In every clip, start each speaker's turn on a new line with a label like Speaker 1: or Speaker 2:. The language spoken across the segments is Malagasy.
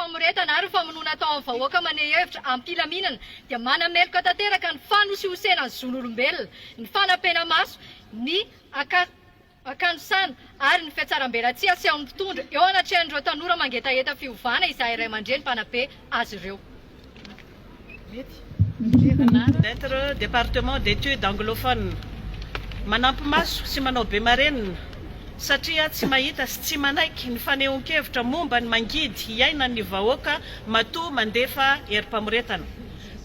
Speaker 1: famoretana ary ny famonoana atao amin'ny vahoaka maneha hevitra am-pilaminana dia manameloka tanteraka ny fanosihosena ny zon'olombelona, ny fanampenamaso, ny akanosana ary ny fihatsarambelatsihy asehon'ny mpitondra eo anatrehan'ireo tanora mangetaheta fiovana izay raiamandreny mpanabe azy ireo.
Speaker 2: d'être département d'études anglophones. Manampy maso sy manao be marenina satria tsy mahita sy tsy manaiky ny fanehoan-kevitra momba ny mangidy iainan'ny vahoaka matoa mandefa herim-pamoretana.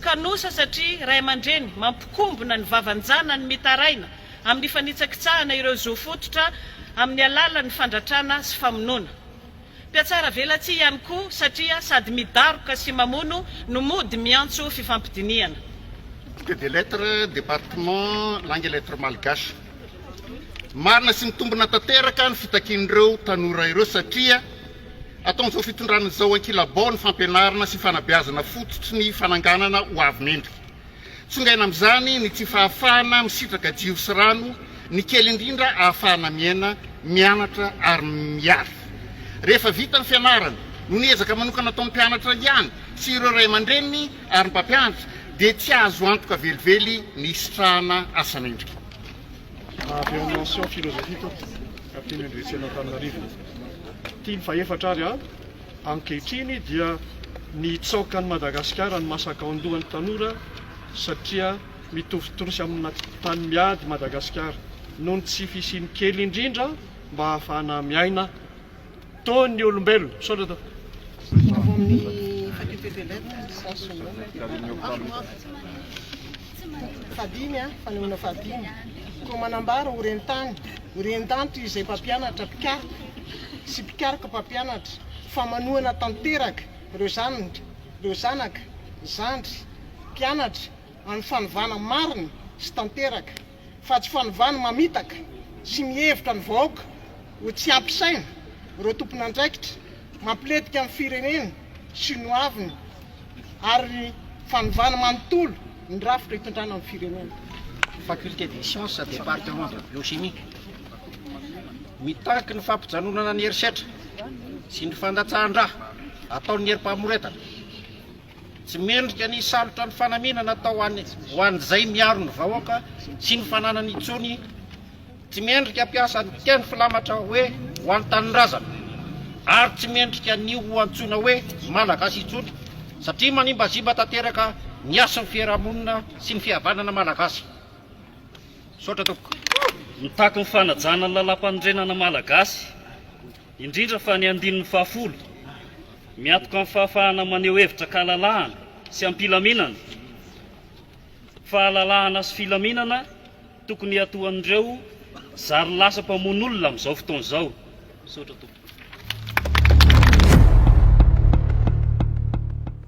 Speaker 2: Kanosa satria ray aman-dreny mampikombona ny vavan-janany mitaraina amin'ny fanitsakitsahana ireo zo fototra amin'ny alalan'ny fandratrana sy famonoana. Mpiatsaravelatsihy ihany koa satria sady midaroka sy mamono no mody miantso fifampidinihana. Bouquet des
Speaker 3: lettres, département langue et lettres malgaches. Marina sy mitombina tanteraka ny fitakian'ireo tanora ireo satria ataon'izao fitondrana izao ankilabao ny fampianarana sy fanabeazana fototry ny fananganana ho avy mendrika. Tsongaina amin'izany ny tsy fahafahana misitraka jiro sy rano, ny kely indrindra ahafahana miaina, mianatra ary miary. Rehefa vita ny fianarana, noho ny ezaka manokana ataon'ny mpianatra ihany sy ireo ray aman-dreniny ary ny mpampianatra dia tsy azo antoka velively ny hisitrahana asa mendrika.
Speaker 4: Avy ao Mention philosophie Toa Kapiteny Andriatsena Antananarivo Tia ny fahefatra ary aho. Ankehitriny dia nitsaoka an'i Madagasikara ny masakaondohan'ny tanora satria mitovitorosy amina tany miady i Madagasikara noho ny tsy fisian'ny kely indrindra mba hahafahana miaina toa ny olombelona. Misaotra
Speaker 5: tompoko. Fahadimy, Fanehoana fahadimy, Koa manambara ho ren-tany, ho ren-tany toy izay mpampianatra mpikaroka sy mpikaroka mpampianatra fa manohana tanteraka ireo zanany, ireo zanaka, zandry, mpianatra amin'ny fanovana marina sy tanteraka fa tsy fanovana mamitaka sy mihevitra ny vahoaka ho tsy ampy saina ireo tompon'andraikitra. Mampiletika ny firenena sy ny hoaviny ary ny fanovana manontolo ny rafitra itondrana ny firenena. Faculté des
Speaker 6: sciences, département de biochimie, mitaky ny fampijanonana ny herisetra sy ny fandatsahan-dra ataon'ny herim-pamoretana. Tsy mendrika ny hisalotra ny fanamiana natao ho an'ny ho an'izay miaro ny vahoaka sy ny fananany intsony. Tsy mendrika hampiasa ny teny filamatra hoe ho an'ny tanindrazana. Ary tsy mendrika ny ho antsoina hoe Malagasy intsony satria manimbazimba tanteraka ny hasin'ny fiarahamonina sy ny fihavanana Malagasy. Misaotra tompoko. Mitaky
Speaker 7: ny fanajana ny Lalàmpanorenana Malagasy. indrindra fa ny andininy fahafolo, miatoka amin'ny fahafahana maneho hevitra an-kalalahana sy am-pilaminana, fahalalahana sy filaminana tokony hiatoan'ireo zary lasa mpamono olona amin'izao fotoana izao. Misaotra tompoko.